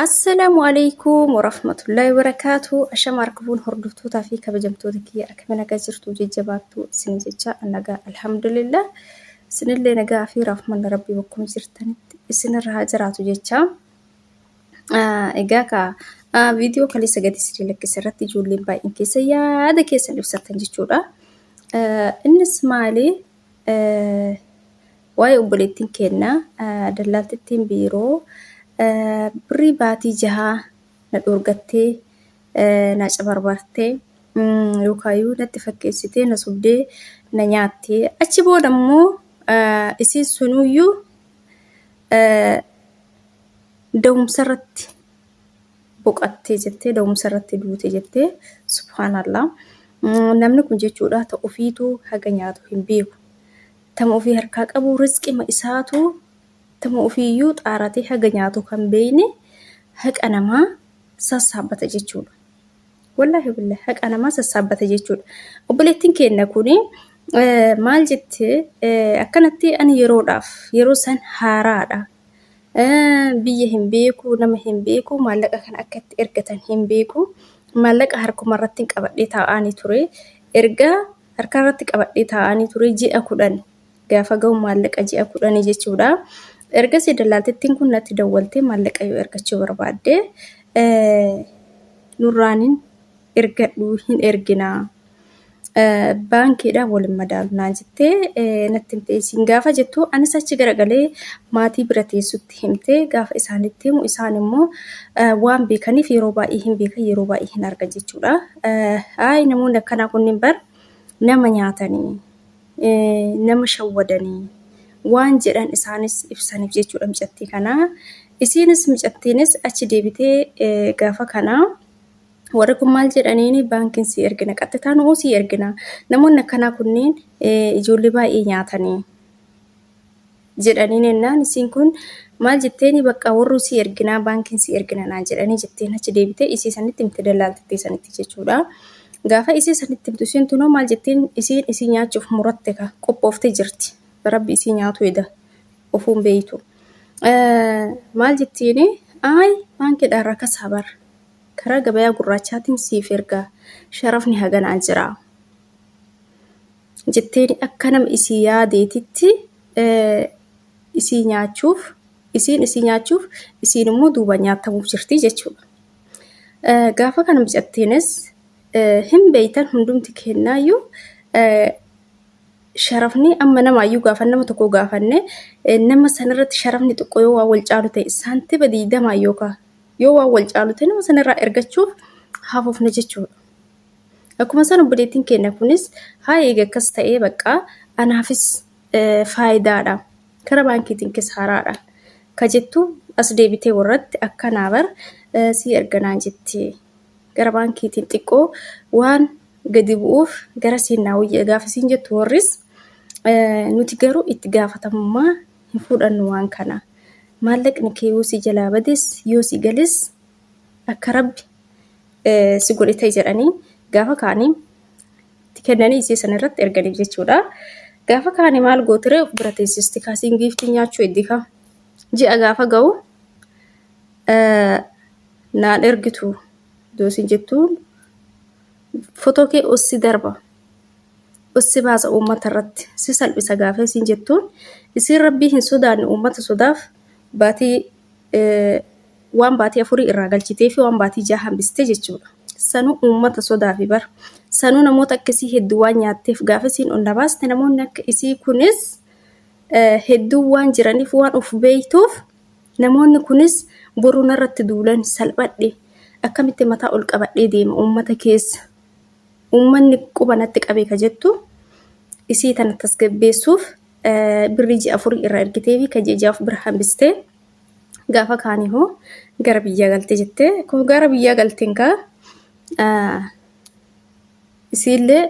Assalaamu alaikum warahmatullahi wabarakaatu. Ashama harkafuun hordoftootaa fi kabajamtoota kiyya akkamiin nagaa jirtu jajjabaattu isin jecha nagaa alhamdulillah. Isinillee nagaa fi rahmanni rabbii bakkuma jirtanitti isinirra haa jiraatu jecha. Ah, Egaa ka ah, viidiyoo kaleessa gadi isin lakkise irratti ijoolleen baay'een keessa yaada keessan ibsattan jechuudha. Ah, Innis maali? Waa'ee obboleettiin keenna dallaaltittiin biiroo birrii baatii jahaa na dhoorgattee na cabarbartee yookaayuu natti fakkeessitee na sobdee na nyaattee achi booda immoo isiin sunuyyuu da'umsa irratti boqattee jettee da'umsa irratti duute jettee subhaanallaa namni kun jechuudha ta ofiitu haga nyaatu hin beeku tama ofii harkaa qabu rizqima isaatu tama ofiiyyuu xaaratee haga nyaatu kan beeyne haqa namaa sassaabbata jechuudha. Wallaahi billah haqa namaa sassaabbata jechuudha. Obboleettiin keenya kun maal jette akkanatti ani yeroodhaaf yeroo san haaraadha biyya hin beeku nama hin beeku maallaqa kana akka itti ergatan hin beeku maallaqa harkuma irratti qabadhee taa'anii ture erga harka irratti qabadhee taa'anii ture ji'a kudhan gaafa ga'u maallaqa ji'a kudhanii jechuudha ergasii dallaaltittiin kun natti dawwaltee maallaqa yoo ergachuu barbaadde nurraanin ergadhu hin erginaa. baankiidhaan waliin madaalu naan jettee natti himte isin gaafa jettu anis achi garagalee maatii bira teessutti himte gaafa isaanitti himu isaan immoo waan beekaniif yeroo baay'ee hin beekan yeroo baay'ee hin argan jechuudha. Ayi namoonni akkanaa kunniin bar nama nyaatanii nama shawwadanii waan jedhan isaanis ibsaniif jechuudha micattii kanaa. Isiinis micattiinis achi deebitee gaafa kanaa. Warri kun maal jedhaniin baankiin sii ergina qaxxitaa nu'uu sii ergina namoonni akkanaa kunneen ijoollee baay'ee nyaatanii jedhaniin ennaan isiin kun maal jetteeni bakka warruu sii erginaa baankiin sii ergina naan jedhanii jetteen achi deebitee isii sanitti himte dallaaltittii sanitti jechuudha. Gaafa isii sanitti himtu isiin tunoo maal jetteen isiin isii nyaachuuf muratte ka qophooftee jirti rabbi isii nyaatu eda ofuun beeytu. Maal jettiini ayi baankiidhaan rakasaa bara karaa gabayaa gurraachaatiin siif ergaa sharafni haganaa jira jetteeni akka nama isii yaadeetitti isii nyaachuuf isiin isii nyaachuuf isiin immoo duuba nyaatamuuf jirti jechuudha. Gaafa kana mucattiinis hin beeytan hundumti kennaayyuu sharafni amma namaayyuu gaafa nama tokko gaafanne nama sanirratti sharafni xiqqoo yoo waa wal caalu ta'e saantiba diidamaa yookaan Yoo waan wal caalu ta'e nama sanarraa ergachuuf hafuufna jechuudha. Akkuma san obboleettiin keenya kunis haa eega akkas ta'ee baqqaa anaafis faayidaadha. Kara baankiitiin kisaaraadha. Ka jettu as deebitee warratti akkanaa bar sii erganaan jetti. Gara baankiitiin xiqqoo waan gadi bu'uuf gara siin naa wayya gaafa siin jettu warris nuti garuu itti gaafatamummaa hin fudhannu waan kana. Maallaqni kee yoo si jalaa bades yoo si gales akka rabbi si godhe ta'e jedhanii gaafa kaanii itti kennanii isii sana irratti erganiif jechuudha. Gaafa kaanii maal gootiree of bira teessisti kaasiin giiftii nyaachuu eddika. Ji'a gaafa ga'u naan ergitu yoo isin jettuun fotoo kee ossi darba. si baasa uummata irratti si salphisa gaafee siin jettuun isiin rabbii hin sodaanne uummata sodaaf baatii waan baatii afurii irraa galchitee fi waan baatii jaha hambiste jechuudha. Sanuu uummata sodaafi bar. Sanuu namoota akka isii hedduu waan nyaatteef gaafa isiin ol na baaste namoonni akka isii kunis hedduu waan jiraniif waan of beektuuf namoonni kunis boruu narratti duulan salphadhe akkamitti mataa ol qabadhee deema uummata keessa uummanni quba natti qabe ka jettu isii tana tasgabbeessuuf birrii ji'a afurii irraa ergitee fi ka ji'a ja'aaf bira hambistee gaafa kaanii hoo gara biyyaa galte jettee koo gara biyyaa galteen kaa isiillee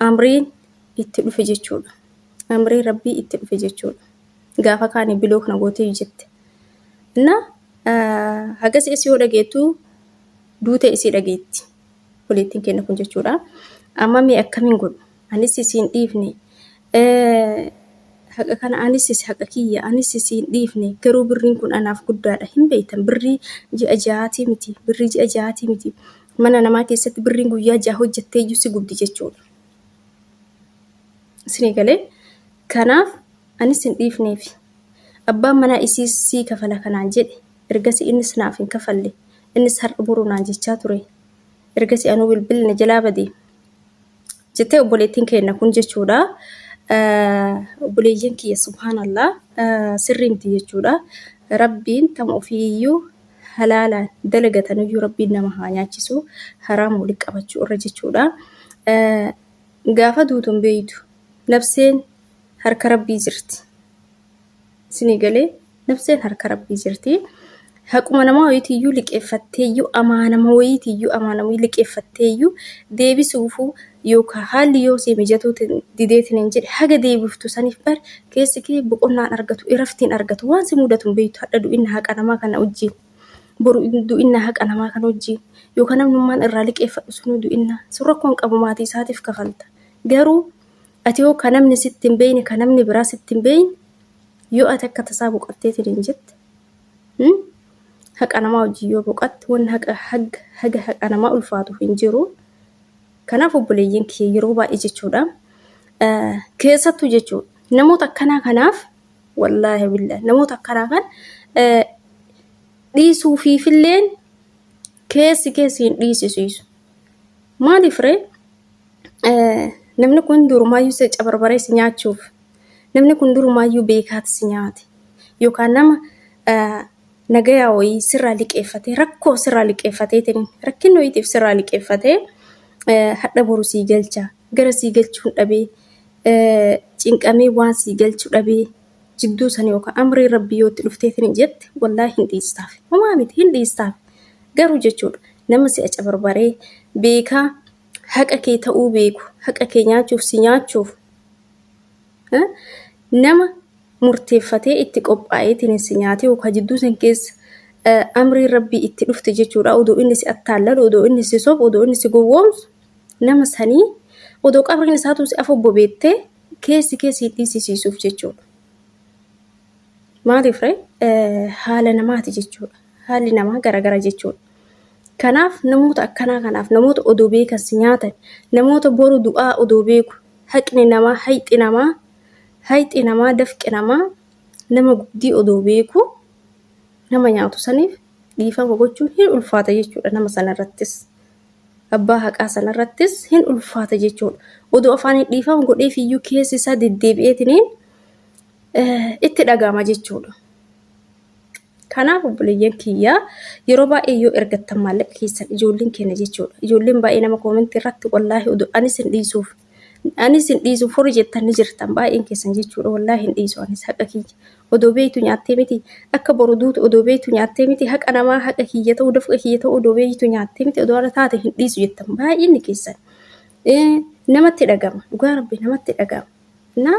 amriin itti dhufe jechuudha. Amrii rabbii itti dhufe jechuudha. Gaafa kaanii biloo kana gootee jette. Inna hagas isii yoo dhageettu duuta isii dhageetti. obboleettiin keenya kun jechuudha. Amma mee akkamiin godhu? Anis isiin dhiifne. Haqa kana anis isi haqa kiyya anis isiin dhiifne garuu birriin kun anaaf guddaadha hin beektan birrii ji'a ja'aatii miti birrii ji'a ja'aatii miti mana namaa keessatti birriin guyyaa ja'a hojjettee iyyuu si gubdi jechuudha. Isinii galee kanaaf anis hin dhiifneef abbaan manaa isii sii kafala kanaan jedhe ergasi innis naaf hin kafalle Innis har'a boru naan jechaa ture. Ergasii anuu bilbilli na jalaa bade. Jettee obboleettiin keenna kun jechuudha. Obboleeyyan kiyya subhaanallah sirrii miti jechuudha. Rabbiin tama ofiiyyuu halaalaan dalagatanuyyuu rabbiin nama haa nyaachisu haraama walitti qabachuu irra jechuudha. Gaafa duutu hin beeytu. Nabseen harka rabbii jirti. Isinii galee nafseen harka rabbii jirti. Haquma namaa wayiitiyyuu liqeeffatteeyyuu amaanama wayiitiyyuu amaanamuu liqeeffatteeyyuu deebisuufuu yookaan haalli yoo si mijatuu dideetiin hin jedhe haga deebiftu saniif bar keessi kee boqonnaan argatu iraftiin argatu waan si mudatu hin beektu hadha du'inna haqa namaa kana wajjin boru du'inna haqa namaa kana wajjin yookaan namnummaan irraa liqeeffadhu sunuu du'inna sun rakkoo hin qabu maatii isaatiif kafalta garuu Ati hoo ka namni sitti hin beeyne ka namni biraa sitti hin beeyne yoo ati akka tasaa boqattee tiniin jette hmm? haqa namaa wajjin yoo boqatte wanni haqa haga, haga haqa namaa ulfaatu hin jiru kanaaf obboleeyyan kiyya yeroo baay'ee jechuudha eh, keessattuu jechuudha namoota akkanaa kanaaf wallaahi billah namoota akkanaa kan eh, dhiisuufiifilleen keessi keessi hin dhiisisiisu maaliif ree Namni kun durumaayyuu si cabarbaree si nyaachuuf namni kun durumaayyuu beekaati si nyaate yookaan nama nagayaa wayii sirraa liqeeffatee rakkoo sirraa liqeeffateetiin rakkinni wayiitiif sirraa liqeeffatee hadha boru sii galcha gara sii galchuun dhabee cinqamee waan sii galchu dhabee jidduu sana yookaan amrii rabbii yoo itti dhufteetiin jette wallaa hin dhiistaaf homaa miti hin dhiistaaf garuu jechuudha nama si'a cabarbaree beekaa haqa kee ta'uu beeku haqa kee nyaachuuf si nyaachuuf nama murteeffatee itti qophaa'eetiin si nyaatee yookaan jidduu san keessa amriin rabbii itti dhufte jechuudha odoo inni si attaallalu odoo inni si sobu odoo inni si gowwoomsu nama sanii odoo qabriin isaatuu si afobbo beettee keessi kee si dhiisisiisuuf jechuudha. Maaliif haala namaati jechuudha haalli namaa garagara jechuudha. Kanaaf namoota akkanaa kanaaf namoota odoo beekan si nyaatan namoota boru du'aa odoo beeku haqni namaa hayxi namaa hayxi namaa dafqi namaa nama guddii odoo beeku nama nyaatu saniif dhiifama gochuun hin ulfaata jechuudha nama sanarrattis. Abbaa haqaa sanarrattis hin ulfaata jechuudha. Odoo afaaniin dhiifama godheef iyyuu keessi isaa deddeebi'eetiniin itti dhaga'ama jechuudha. Kanaaf obboleeyyan kiyya yeroo baay'ee yoo ergattan maallaqa keessan ijoolleen keenya jechuudha. Ijoolleen baay'ee nama koomentii irratti wallaahi oduu anis hin dhiisuuf. Anis hin dhiisuuf horii jettan ni jirtan baay'een keessan jechuudha wallaahi hin dhiisu anis haqa kiyya. Odoo beektu nyaattee miti akka boru duutu odoo beektu nyaattee miti haqa namaa haqa kiyya ta'uu dafqa kiyya ta'uu odoo beektu nyaattee miti odoo ala taate hin dhiisu jettan baay'inni keessan. Namatti dhagama dhugaa rabbi namatti dhagama. Na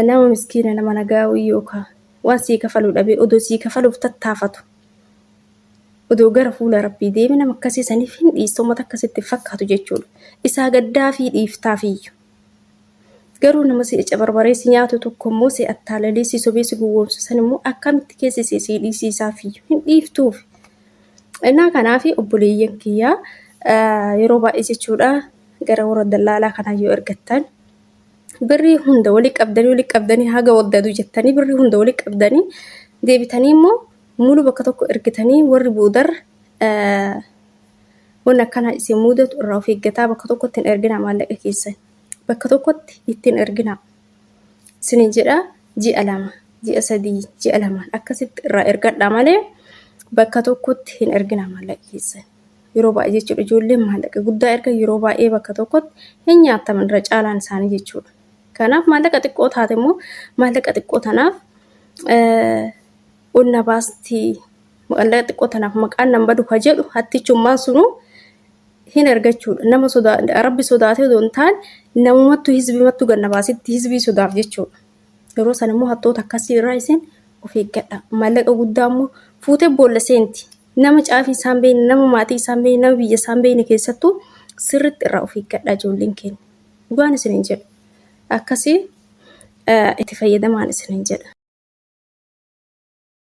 nama miskiina nama nagaa wayii yookaan waan sii kafaluu dhabee odoo sii kafaluuf tattaafatu odoo gara fuula rabbii deeme nama akkasii saniif hin dhiista uummata akkasitti hin fakkaatu jechuudha isaa gaddaa fi dhiiftaafiyyu garuu nama si cabarbaree si nyaatu tokko immoo si attaalalee si sobee si gowwoomsu san immoo akkamitti keessi si si dhiisiisaafiyyu hin dhiiftuuf innaa kanaaf obboleeyyan kiyyaa yeroo baay'ee jechuudha gara warra dallaalaa kanaa yoo ergattan birrii hunda wali qabdanii wali qabdanii haga waddadu jettanii birrii hunda wali qabdanii deebitanii immoo mulu bakka tokko ergitanii warri boodar wanni akkanaa isin mudatu irraa of eeggataa bakka tokkotti hin erginaa maallaqa keessan bakka tokkotti ittiin erginaa isinin jedhaa ji'a lama ji'a sadii ji'a lamaan akkasitti irraa ergadhaa malee bakka tokkotti hin erginaa maallaqa keessan. Yeroo baay'ee jechuudha ijoolleen maallaqa guddaa erga yeroo baay'ee bakka tokkotti hin nyaattaman irra caalaan isaanii jechuudha. Kanaaf maallaqa xiqqoo taate immoo maallaqa xiqqoo tanaaf ol na baasti maallaqa xiqqoo tanaaf maqaan nan badu ka jedhu hattichummaan sunuu hin argachuudha. Nama sodaa rabbi sodaatee odoo hin taane namumattu hizbimattu ganna baasitti hizbii sodaaf jechuudha. Yeroo sana immoo hattoota akkasii irraa isin of eeggadha. Maallaqa guddaa immoo fuutee boolla seenti. Nama caafii isaa hin beekne, nama maatii isaa hin beekne, nama biyya isaa hin beekne keessattuu sirriitti irraa of eeggadhaa ijoolleen keenya. Dhugaan isin hin jedhu. Akkasii itti fayyadamaan isin hin jedha.